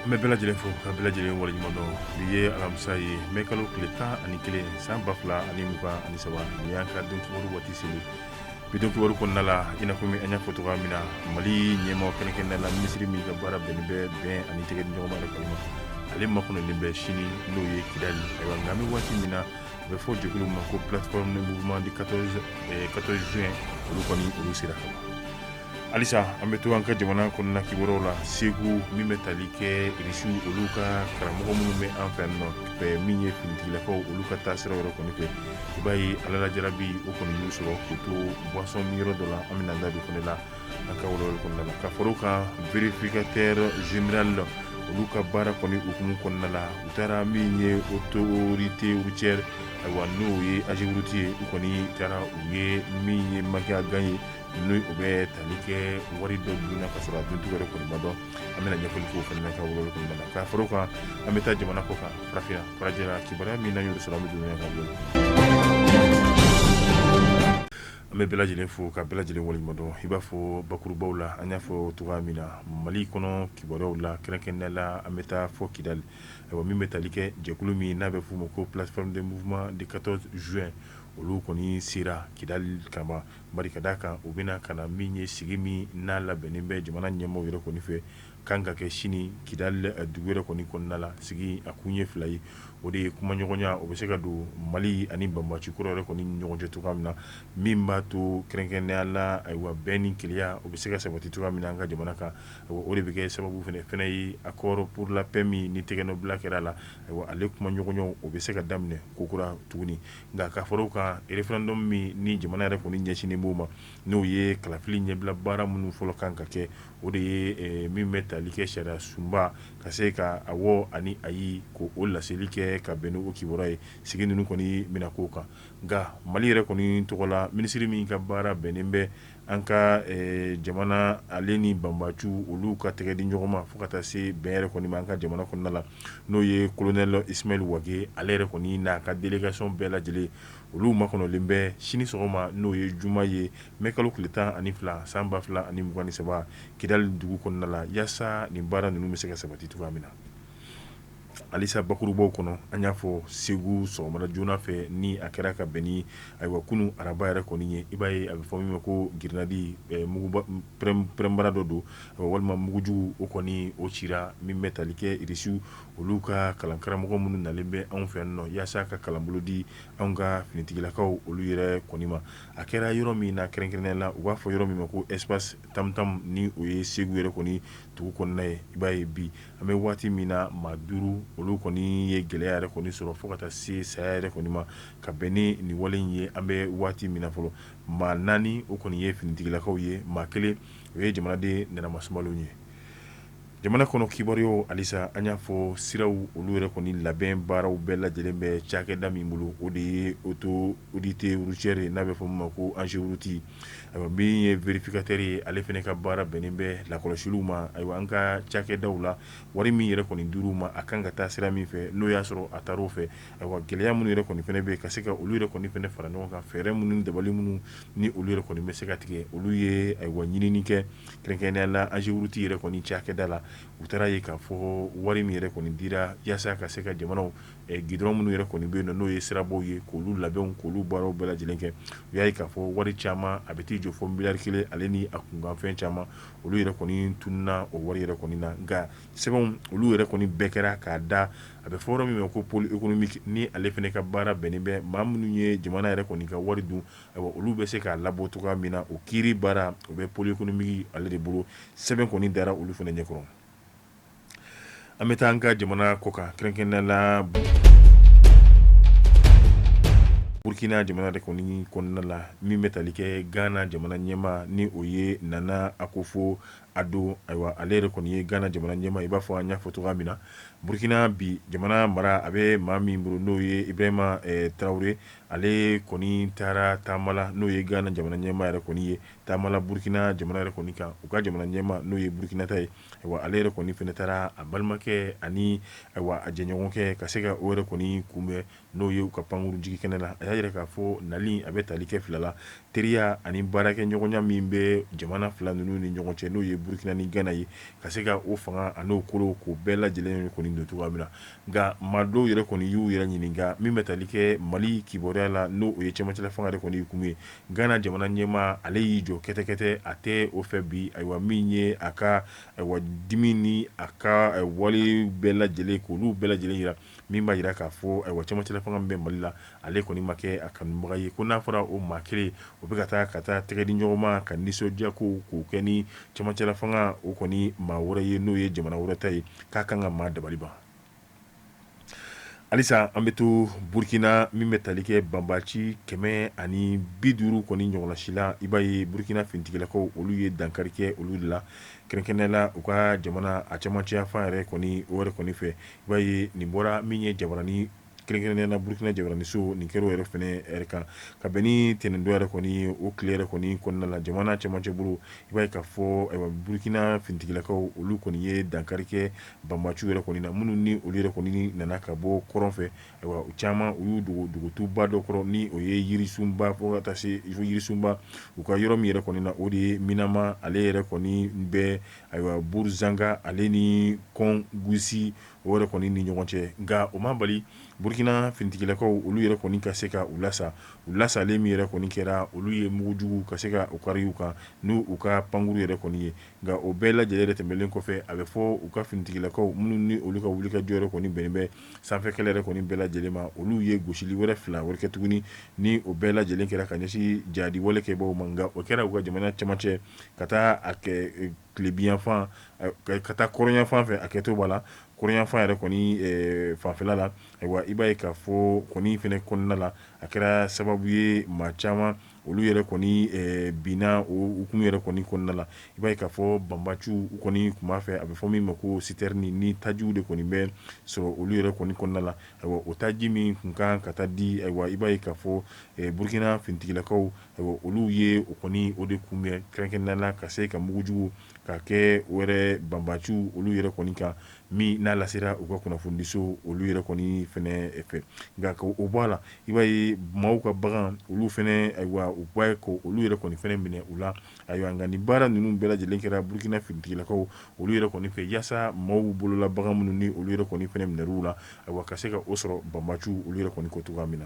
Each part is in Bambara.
An bɛ bɛɛ lajɛlen fo ka bɛɛ lajɛlen waleɲuman dɔn bi ye alamisa ye mɛ kalo tile tan ani kelen san ba fila ani mugan ani saba ni y'an ka don kibaru waati seli bi don kibaru kɔnɔna la i n'a fɔ min an y'a fɔ cogoya min na mali ɲɛmaa kɛrɛnkɛrɛnnen la minisiri min ka baara bɛnnen bɛ bɛn ani tɛgɛ di ɲɔgɔn ma de kɔni ma ale makɔnɔlen bɛ sini n'o ye kidali ayiwa nka an bɛ waati min na a bɛ fɔ jɛkulu ma ko plateforme de mouvement du 14 juin olu kɔni olu sera ka ban halisa an bɛ to an ka jamana kɔnɔna kibaruyaw la segu min bɛ tali kɛ irisiw olu ka karamɔgɔ minnu bɛ an fɛ nɔ min ye finitigilakaw olu ka taasira yɔrɔ kɔni fɛ i b'a ye Ala la jarabi o kɔni y'u sɔrɔ k'u to boisson min yɔrɔ dɔ la an bɛna da don fana la an ka walawali kɔnɔna la ka fara o kan vérificateur général la olu ka baara kɔni hukumu kɔnɔna la u taara min ye autorité routière ayiwa n'o ye AGEROUTE ye u kɔni taara u ye min ye manque à gagner n'o bɛ tali kɛ wari dɔ dun ka sɔrɔ a duncogo yɛrɛ kɔni ma dɔn an bɛna ɲɛfɔli k'o fana na an ka walawali kɔnɔna la ka fara o kan an bɛ taa jamana kɔkan farafinna farajɛla kibaruya min n'an y'o sɔrɔ an bɛ don a ka bolo an bɛ bɛɛ lajɛlen fo ka bɛɛ lajɛlen waleɲuman dɔn i b'a fɔ bakurubaw la an y'a fɔ cogoya min na mali kɔnɔ kibaruyaw la kɛrɛnkɛrɛnnen la an bɛ taa fo kidali ayiwa min bɛ tali kɛ jɛkulu min n'a bɛ f'o ma ko plateforme de mouvement du 14 juin olu kɔni sera kidali kama bari ka d'a kan u bɛna ka na min ye sigi min n'a labɛnnen bɛ jamana ɲɛmɔgɔ yɛrɛ kɔni fɛ ka kan ka kɛ sini kidali dugu yɛrɛ kɔni kɔnɔna la sigi a kun ye fila ye o de ye kumaɲɔgɔnya o bɛ se ka don mali ani banbaci kɔrɔ yɛrɛ kɔni ni ɲɔgɔn cɛ cogoya min na min b'a to kɛrɛnkɛrɛnya la ayiwa bɛn ni kelenya o bɛ se ka sabati cogoya min na an ka jamana kan o de bɛ kɛ sababu fana fana ye accord pour la paix min ni tɛgɛnɔbila kɛra a la ayiwa ale kumaɲɔgɔnyaw o bɛ se ka daminɛ kokura tuguni nka ka fara o kan référendum min ni jamana yɛrɛ kɔni ɲɛsinnen b'o ma n'o ye kalafili ɲɛbila baara minnu fɔlɔ kan ka kɛ o de ye min bɛ tali kɛ sariya sunba ka se ka awɔ ani ayi ko o laseli kɛ ka bɛn n'o kibaruya ye sigi ninnu kɔni bɛna k'o kan nka mali yɛrɛ kɔni tɔgɔ la minisiri min ka baara bɛnnen bɛ an ka jamana ale ni banbaciw olu ka tɛgɛ di ɲɔgɔn ma fo ka taa se bɛn yɛrɛ kɔni ma an ka jamana kɔnɔna la n'o ye kolonɛli Ismaël Wagué ale yɛrɛ kɔni n'a ka délégation bɛɛ lajɛlen olu makɔnɔlen bɛ sini sɔgɔma n'o ye juma ye mɛ kalo tile tan ani fila san ba fila ani mugan ni saba kidali dugu kɔnɔna la yaasa nin baara ninnu bɛ se ka sabati cogoya min na Halisa bakurubaw kɔnɔ an y'a fɔ segu sɔgɔmada joona fɛ ni a kɛra ka bɛn ni ayiwa kunu araba yɛrɛ kɔni ye i b'a ye a bɛ fɔ min ma ko girinadi pɛrɛnbara dɔ don walima mugujugu o kɔni o cira min bɛ tali kɛ irisiw olu ka kalankaramɔgɔ minnu nalen bɛ anw fɛ nɔ yaasa ka kalanbolo di an ka finitigilakaw olu yɛrɛ kɔni ma a kɛra yɔrɔ min na kɛrɛnkɛrɛnnenya la u b'a fɔ yɔrɔ min ma ko espace tamtam ni o ye segu yɛrɛ kɔni dugu kɔnɔna ye i b'a ye bi an bɛ waati min na maa duuru olu kɔni ye gɛlɛya yɛrɛ kɔni sɔrɔ fo ka taa se saya yɛrɛ kɔni ma ka bɛn ni nin wale in ye an bɛ waati min na fɔlɔ maa naani o kɔni ye finitigilakaw ye maa kelen o ye jamanaden nmasba ye jamana kɔnɔ kibaruyaw halisa an y'a fɔ siraw olu yɛrɛ kɔni labɛn baaraw bɛɛ lajɛlen bɛ cakɛda min bolo o de ye oto Autorité routière n'a bɛ fɔ min ma ko AGEROUTE ayiwa min ye vérificateur ye ale fana ka baara bɛnnen bɛ lakɔlɔsiliw ma ayiwa an ka cakɛdaw la wari min yɛrɛ kɔni dir'u ma a kan ka taa sira min fɛ n'o y'a sɔrɔ a taara o fɛ ayiwa gɛlɛya minnu yɛrɛ kɔni fana bɛ yen ka se ka olu yɛrɛ kɔni fana fara ɲɔgɔn kan fɛɛrɛ minnu dabali minnu ni olu yɛrɛ kɔni bɛ se ka tigɛ olu ye ayiwa ɲinini kɛ kɛrɛnkɛrɛnnenya la AGEROUTE yɛrɛ kɔni cakɛda la u taar'a ye k'a fɔ wari min yɛrɛ kɔni dira yaasa ka se ka jamanaw gidɔrɔn minnu yɛrɛ kɔni bɛ yen n'o ye sirabaw ye k'olu labɛn k'olu baaraw bɛɛ lajɛlen kɛ u y'a ye k'a fɔ wari caman a bɛ t'i jɔ fo miliyari kelen ale ni a kunkanfɛn caman olu yɛrɛ kɔni tununna o wari yɛrɛ kɔni na nka sɛbɛnw olu yɛrɛ kɔni bɛɛ kɛra k'a da a bɛ fɔ yɔrɔ min ma ko pôle économique ni ale fana ka baara bɛnnen bɛ maa minnu ye jamana yɛrɛ kɔni ka wari dun ayiwa olu bɛ se k'a labɔ cogoya min na o kiiri baara o bɛ pôle économique ale de bolo sɛbɛn kɔni dara olu fana ɲɛ kɔrɔ an bɛ taa an ka jamana kɔ kan kɛrɛnkɛrɛnnenya la Burukina jamana yɛrɛ kɔni kɔnɔna la min bɛ tali kɛ Gana jamana ɲɛmaa ni o ye Nana Akufo Addo ayiwa ale yɛrɛ kɔni ye Gana jamana ɲɛmaa i b'a fɔ an y'a fɔ cogoya min na Burukina bi jamana mara a bɛ maa min bolo n'o ye Ibrahima Tarawele ale kɔni taara taama la n'o ye Gana jamana ɲɛmaa yɛrɛ kɔni ye taama la Burukina jamana yɛrɛ kɔni kan u ka jamana ɲɛmaa n'o ye Burukina ta ye ale yɛrɛ kɔni fana taara a balimakɛ ani ayiwa a jɛɲɔgɔnkɛ ka se ka o yɛrɛ kɔni kunbɛn n'o ye u ka pankurun jigi kɛnɛ la a y'a yira k'a fɔ nali a bɛ tali kɛ fila la teriya ani baarakɛɲɔgɔnya min bɛ jamana fila ninnu ni ɲɔgɔn cɛ n'o ye burukina ni gana ye ka se ka o fanga an'o kolo k'o bɛɛ lajɛlen kɔni don cogoya min na nka maa dɔw yɛrɛ kɔni y'u yɛrɛ ɲininka min bɛ tali kɛ mali kibaruya la n'o ye cɛmancɛla fanga yɛrɛ kɔni ye kun ye Gana jamana ɲɛmaa ale y'i jɔ kɛtɛkɛtɛ a tɛ o fɛ bi ayiwa min ye a ka ayiwa dimi ni a ka walew bɛɛ lajɛlen k'olu bɛɛ lajɛlen yira min b'a yira k'a fɔ ayiwa camancɛla fanga min bɛ mali la ale kɔni ma kɛ a kanubaga ye ko n'a fɔra o maa kelen o bɛ ka taa ka taa tɛgɛ di ɲɔgɔn ma ka nisɔndiya ko k'o kɛ ni camancɛla fanga o kɔni maa wɛrɛ ye n'o ye jamana wɛrɛ ta ye k'a kan ka maa dabali ban halisa an bɛ to burukina min bɛ tali kɛ banbaci kɛmɛ ani bi duuru kɔni ɲɔgɔnna si la i b'a ye burukina finitigilakaw olu ye dankari kɛ olu de la kɛrɛnkɛrɛnnenya la u ka jamana a cɛmancɛ fan yɛrɛ kɔni o kɔni fɛ i b'a ye nin bɔra min ye jabaranin kɛrɛnkɛrɛnnenya la burukina jabaraninso nin kɛra o yɛrɛ fɛnɛ yɛrɛ kan ka bɛn ni ntɛnɛndon yɛrɛ kɔni o tile yɛrɛ kɔni kɔnɔna la jamana cɛmancɛ bolo i b'a ye k'a fɔ burukina finitigilakaw olu kɔni ye dankari kɛ banbaciw yɛrɛ kɔni na minnu ni olu yɛrɛ kɔni nana ka bɔ kɔrɔn fɛ u caman u y'u dogo dugutuba dɔ kɔrɔ ni o ye yirisunba fo ka taa se yirisunba u ka yɔrɔ min yɛrɛ kɔni na o de ye minama ale yɛrɛ kɔni bɛ ayiwa buruzanga ale ni kɔngusi o yɛrɛ kɔni ni ɲɔgɔn cɛ nka o ma bali burukina finitigilakaw olu yɛrɛ kɔni ka se ka u lasa u lasalen min yɛrɛ kɔni kɛra olu ye mugujugu ka se ka u kari u kan ni u ka pankurun yɛrɛ kɔni ye nka o bɛɛ lajɛlen yɛrɛ tɛmɛlen kɔfɛ a bɛ fɔ u ka finitigilakaw minnu ni olu ka wulikajɔ yɛrɛ kɔni bɛnnen bɛ sanfɛkɛlɛ yɛrɛ kɔni bɛɛ lajɛlen ma olu ye gosili wɛrɛ fila wɛrɛ kɛ tuguni ni o bɛɛ lajɛlen kɛra ka ɲɛsin jadi wale kɛbaaw ma nka o kɛra u ka jamana cɛmancɛ ka taa a kɛ tilebinyanfan ka taa kɔrɔnyanfan fɛ a kɛtɔ b'a la kɔrɔnyanfan yɛrɛ kɔni fanfɛla la ayiwa i b'a ye k'a fɔ kɔni fɛnɛ kɔnɔna la a kɛra sababu ye maa caman olu yɛrɛ kɔni binna o hukumu yɛrɛ kɔni kɔnɔna la i b'a ye k'a fɔ banbaciw kɔni tun b'a fɛ a bɛ fɔ min ma ko sitɛrini ni tajiw de kɔni bɛ sɔrɔ olu yɛrɛ kɔni kɔnɔna la ayiwa o taji min tun kan ka taa di ayiwa i b'a ye k'a fɔ burukina finitigilakaw ayiwa olu ye o kɔni o de kunbɛn kɛrɛnkɛrɛnnenya la ka se ka mugujugu ka kɛ o yɛrɛ banbaciw olu yɛrɛ kɔni kan min n'a lasera u ka kunnafonidiso olu yɛrɛ kɔni fɛnɛ fɛ nka o bɔ a la i b'a ye maaw ka bagan olu fɛnɛ ayiwa u b'a ye ko olu yɛrɛ kɔni fɛnɛ minɛ u la ayiwa nka nin baara ninnu bɛɛ lajɛlen kɛra burukina finitigilakaw olu yɛrɛ kɔni fɛ yaasa maaw bolola bagan minnu ni olu yɛrɛ kɔni fɛnɛ minɛra u la ayiwa ka se ka o sɔrɔ banbaciw olu yɛrɛ kɔni ko cogoya min na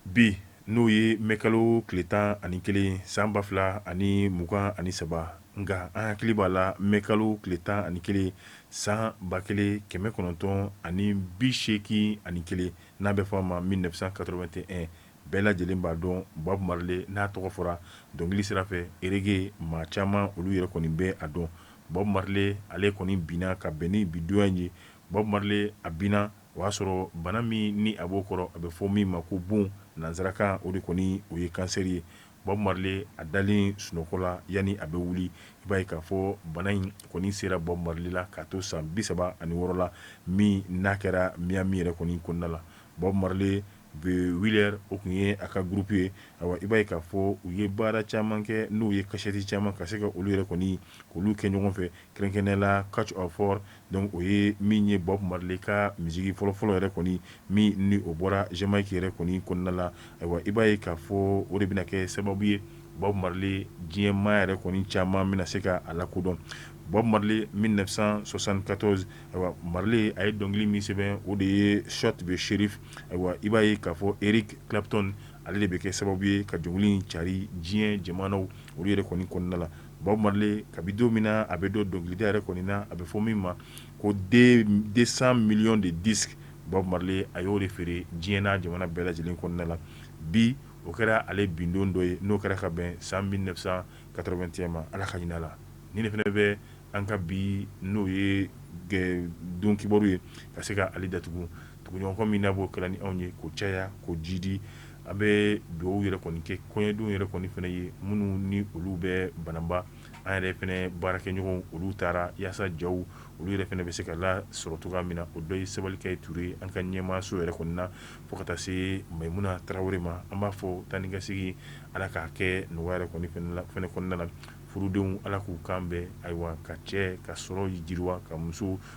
bi n'o ye mɛ kalo tile tan ani kelen san ba fila ani mugan ani saba nka an hakili b'a la mɛ kalo tile tan ani kelen san ba kelen kɛmɛ kɔnɔntɔn ani bi seegin ani kelen n'a bɛ fɔ a ma mille neuf cent quatre-vingt-un bɛɛ lajɛlen b'a dɔn Bob Marley n'a tɔgɔ fɔra dɔnkili sira fɛ reggae maa caman olu yɛrɛ kɔni bɛ a dɔn Bob Marley ale kɔni binna ka bɛn ni bidonya ye Bob Marley a binna o y'a sɔrɔ bana min ni a b'o kɔrɔ a bɛ fɔ min ma ko bon nansarakan o de kɔni o ye kansɛri ye Bob Marley a dalen sunɔgɔ la yanni a bɛ wuli i b'a ye k'a fɔ bana in kɔni sera Bob Marley la k'a to san bi saba ani wɔɔrɔ la min n'a kɛra Miami yɛrɛ kɔni kɔnɔna la Bob Marley The Wailers o tun ye a ka groupe ye ayiwa i b'a ye k'a fɔ u ye baara caman kɛ n'u ye kasɛti caman ka se ka olu yɛrɛ kɔni olu kɛ ɲɔgɔn fɛ Kɛrɛnkɛrɛnnenya la Catch a Fire donc o ye min ye Bob Marley ka misiki fɔlɔfɔlɔ yɛrɛ kɔni min ni o bɔra Jamaïque yɛrɛ kɔni kɔnɔna la ayiwa i b'a ye k'a fɔ o de bɛna kɛ sababu ye Bob Marley diɲɛmaa yɛrɛ kɔni caman bɛna se ka a lakodɔn Bob Marley 1974 ayiwa Marley a ye dɔnkili min sɛbɛn o de ye Shot the Sheriff ayiwa i b'a ye k'a fɔ Eric Clapton ale de bɛ kɛ sababu ye ka dɔnkili cari diɲɛ jamanaw olu yɛrɛ kɔni kɔnɔna la Bob Marley kabi don min na a bɛ don dɔnkilida yɛrɛ kɔni na a bɛ fɔ min ma ko 200 millions de disques Bob Marley a y'o de feere diɲɛ n'a jamana bɛɛ lajɛlen kɔnɔna la bi o kɛra ale bin don dɔ ye n'o kɛra ka bɛn san 1981 ma Ala ka hinɛ a la nin de fana bɛ an ka bi n'o ye don kibaru ye ka se ka ale datugu. Tuguɲɔgɔnkɔ min n'a b'o kɛra ni anw ye k'o caya k'o jidi an bɛ dugawu yɛrɛ kɔni kɛ kɔɲɔdenw yɛrɛ kɔni fana ye minnu ni olu bɛ Banamba an yɛrɛ fana baarakɛɲɔgɔnw olu taara walasa jaw olu yɛrɛ fana bɛ se ka lasɔrɔ cogoya min na o dɔ ye Sabalikɛ Ture ye an ka ɲɛmaaso yɛrɛ kɔni na fo ka taa se Mayimuna Tarawele ma an b'a fɔ taa ni ka segin ala k'a kɛ nɔgɔya yɛrɛ fana kɔnɔna la furudenw ala k'u kan bɛn ayiwa ka cɛ ka sɔrɔ jiriwa ka muso